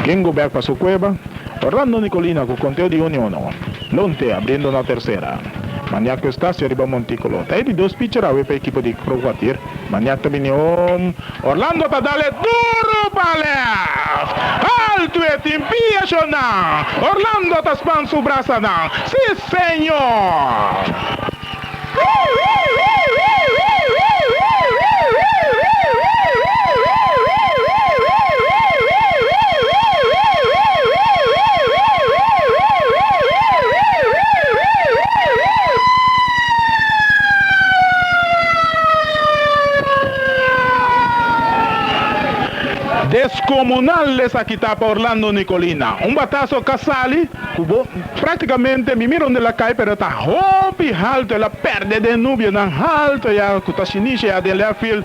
Gringo bek pa su cueba, Orlando Nicolina cu conteo di uno uno, Lonte abriendo na tercera, Maniak cu Eustacio riba Monticulo ta e di dos pitcher awe pa ekipo di Crocuatir, Maniak ta bini home, Orlando ta dale duro pa left, alto e tin piacionan, Orlando ta span su brasanan, si señor! Descomunal esaki ta pa Orlando Nicolina. Un bataso ka sali ku bo. Practicamente mi mira un di lakay pero ta hopi halto el a perde den nubionan halto ya cu ta siniche ya den left field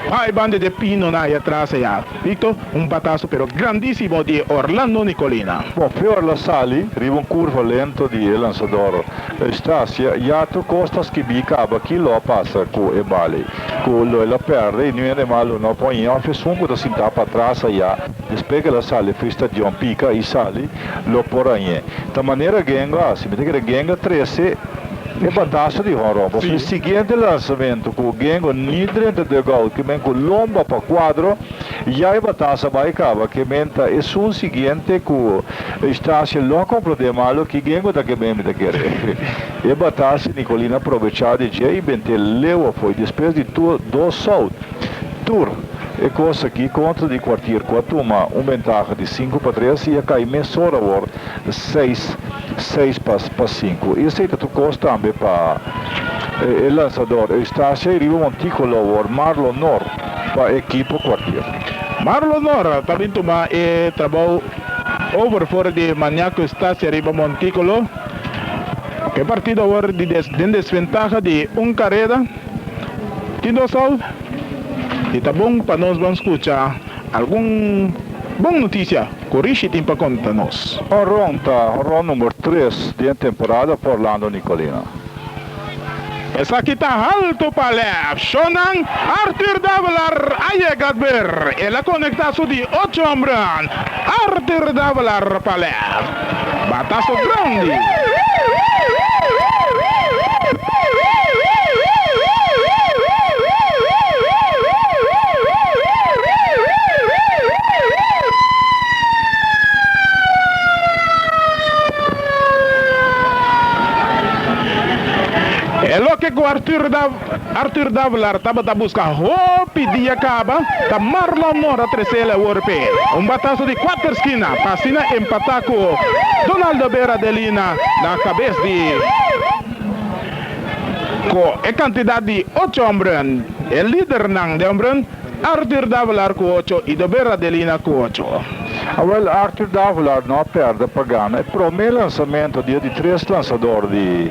bai banda de pinonan ay atras aya Victor un bataso pero grandisimo di Orlando Nicolina. Bo peor la sali riba un curva lento di e lansador Eustacia ya tur costas ki bi caba ki lo a pasa cu e bali cu lo el a perde y nu hende malo no a pon in off esun cu ta sinta patras aya. Despues kela sali fris ta John pika y sali lo por añe. Ta manera Gengo haci. Mi ta kere Gengo trece e bataso di honron. Pasobra e siguiente lanzamento cu Gengo ni drenta dugout ke men cu lomba pa cuadro ya e bataso a bay caba ke men ta esun siguiente cu Eustacio lo a complode malo ki Gengo ta ke men mi ta kere. E bataso Nicolina probecha di dje y bente leu afoy. Despues di dos out. Tur e kos aki kontra di kuartier ku a tuma un bentaha di sinku pa tres i a kai mesora awor seis seis pa pa sinku. I esei ta tur kos tambe pa e lansador Eustacia i riba Monticolo awor Marlon Nor pa e ekipo kuartier. Marlon Nor ta bin tuma e trabou over for di Maniaco Eustacia riba Monticolo. E partido awor di den desventaha di un kareda. Tin dos hou i ta bon pa nos ban skucha algun bon notisia ku Rishi tin pa konta nos. Honron ta honron number tres di e temporada pa Orlando Nicolina. Esaki ta haltu pa lèf shownan. Arthur Davalar a yega at ber. El a konekta su di ocho hombran. Arthur Davalar pa lèf. Bataso grandi! E loke ku Arthur ta. Arthur Davelaar tabata buska hopi dia kaba ta Marlon Mora tresela e wor p'e un bataso di kuater skina pa asina empata ku Donaldo Vera de Lina na kabes di Ku e kantidat di ocho hombren e lidernan di hombren Arthur Davelaar ku ocho i Dobera de Lina ku ocho. Awel Arthur Davelaar no a perde pa gana e prome lansamentu dia di tres lansador di.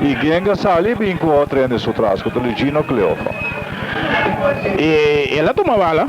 I Genga sali bin ku otro hende su tras, ku ta Luigino Cleofa. I el a tuma bala